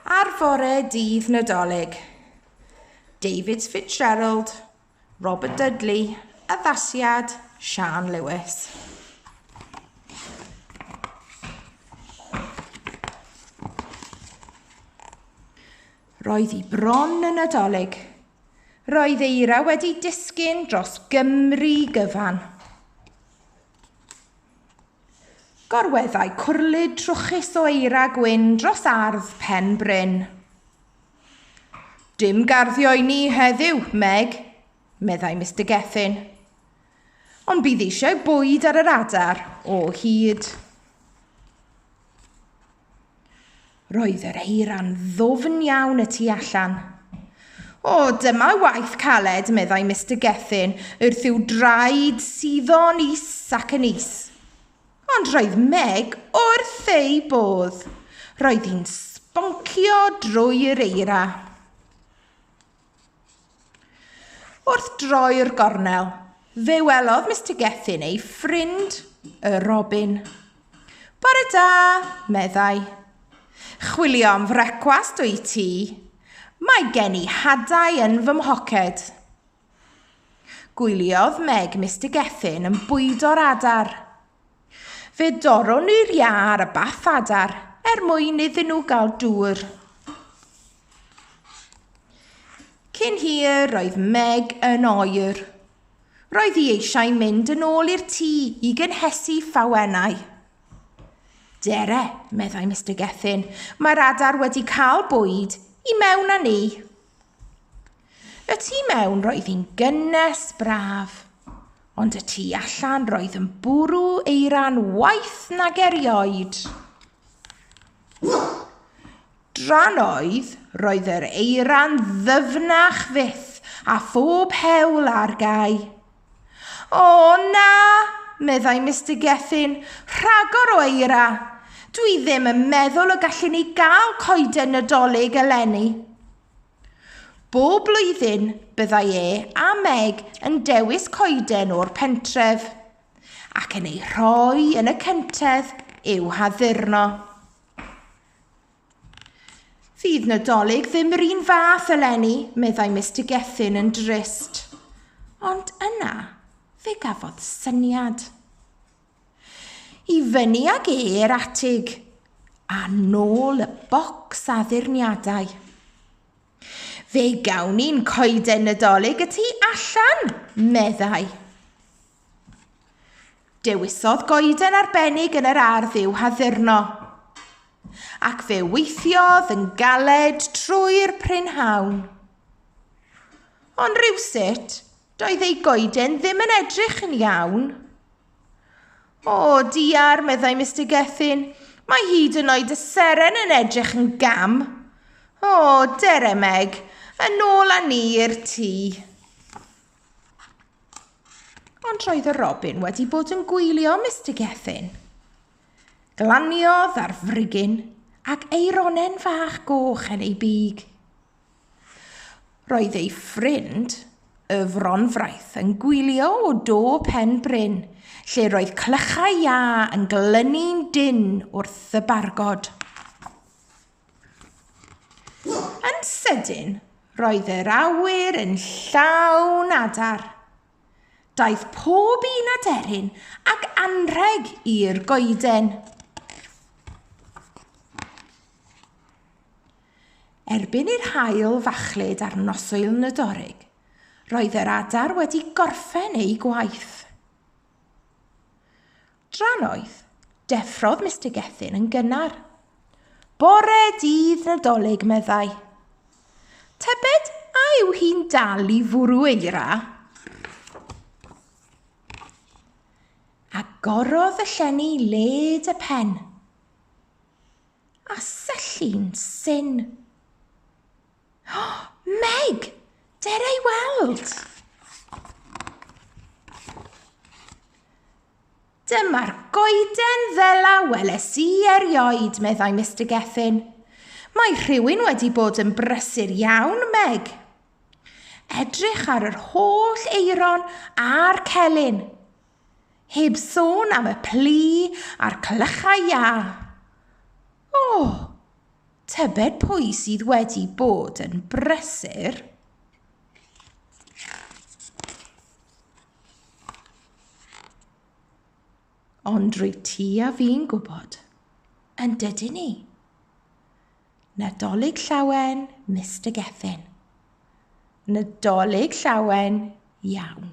Ar fore dydd Nadolig, David Fitzgerald, Robert Dudley, addasiad Sian Lewis. Roedd hi bron yn Nadolig. Roedd eira wedi disgyn dros Gymru gyfan. Gorweddai cwrlid trwchus o eira gwyn dros ardd Pen Bryn. Dim garddio i ni heddiw, Meg, meddai Mister Gethin. Ond bydd eisiau bwyd ar yr adar o hyd. Roedd yr eira'n ddwfn iawn y tu allan. O, dyma waith caled, meddai Mister Gethin, wrth i'w draed suddo'n is ac yn is. Ond roedd Meg wrth ei bodd. Roedd hi'n sboncio drwy'r eira. Wrth droi'r gornel, fe welodd Mr Gethin ei ffrind, y robin. Bore da, meddai. Chwilio am frecwast o'i ti. Mae gen i hadau yn fy mhoced. Gwyliodd Meg Mr Gethin yn bwydo'r adar. Fe dorron ni'r iâ ar y bath adar er mwyn iddyn nhw gael dŵr. Cyn hir roedd Meg yn oer. Roedd hi eisiau mynd yn ôl i'r tŷ i gynhesu ffawennau. Dere, meddai Mr Gethin, mae'r adar wedi cael bwyd i mewn â ni. Y tu mewn roedd hi'n gynnes braf, ond y tu allan roedd yn bwrw eira'n waith nag erioed. Dran oedd, roedd yr eira'n ddyfnach fyth a phob hewl ar gau. O, na, meddai Mister Gethin, rhagor o eira. Dwi ddim yn meddwl y gallwn ni gael coeden Nadolig eleni. Bob blwyddyn, byddai e a Meg yn dewis coeden o'r pentref, ac yn ei rhoi yn y cyntedd i'w haddurno. Fydd Nadolig ddim yr un fath eleni, meddai Mister Gethin yn drist. Ond yna, fe gafodd syniad. I fyny ag e'r atig, a nôl y bocs addurniadau. Fe gawn ni'n coeden Nadolig y tu allan, meddai. Dewisodd goeden arbennig yn yr ardd i'w haddurno. Ac fe weithiodd yn galed trwy'r prynhawn. Ond rhywsut, doedd ei goeden ddim yn edrych yn iawn. O, diar, meddai Mr Gethin, mae hyd yn oed y seren yn edrych yn gam. O, dere Meg, yn ôl â ni i'r tŷ. Ond roedd y robin wedi bod yn gwylio Mr Gethin. Glaniodd ar frigyn ac ei ronen fach goch yn ei big. Roedd ei ffrind, y fronfraith, yn gwylio o do pen bryn, lle roedd clychau iâ yn glynu'n dynn wrth y bargod. Yn sydyn, roedd yr awyr yn llawn adar. Daeth pob un aderyn ac anrheg i'r goeden. Erbyn i'r haul fachlud ar noswyl Nadolig, roedd yr adar wedi gorffen eu gwaith. Drannoeth, deffrodd Mister Gethin yn gynnar. Bore dydd Nadolig, meddai. Tybed a yw hi'n dal i fwrw eira? Agorodd y llenni led y pen. A syllu'n syn. Meg! Dere i weld! Dyma'r goeden ddela weles i erioed, meddai Mr Geffin. Mae rhywun wedi bod yn brysur iawn, Meg. Edrych ar yr holl eiron a'r celyn. Heb sôn am y plu a'r clychau iâ. O, Tybed pwy sydd wedi bod yn brysur? Ond rwyt ti a fi'n gwybod, yn dydyn ni? Nadolig llawen, Mr Gethin. Nadolig llawen iawn.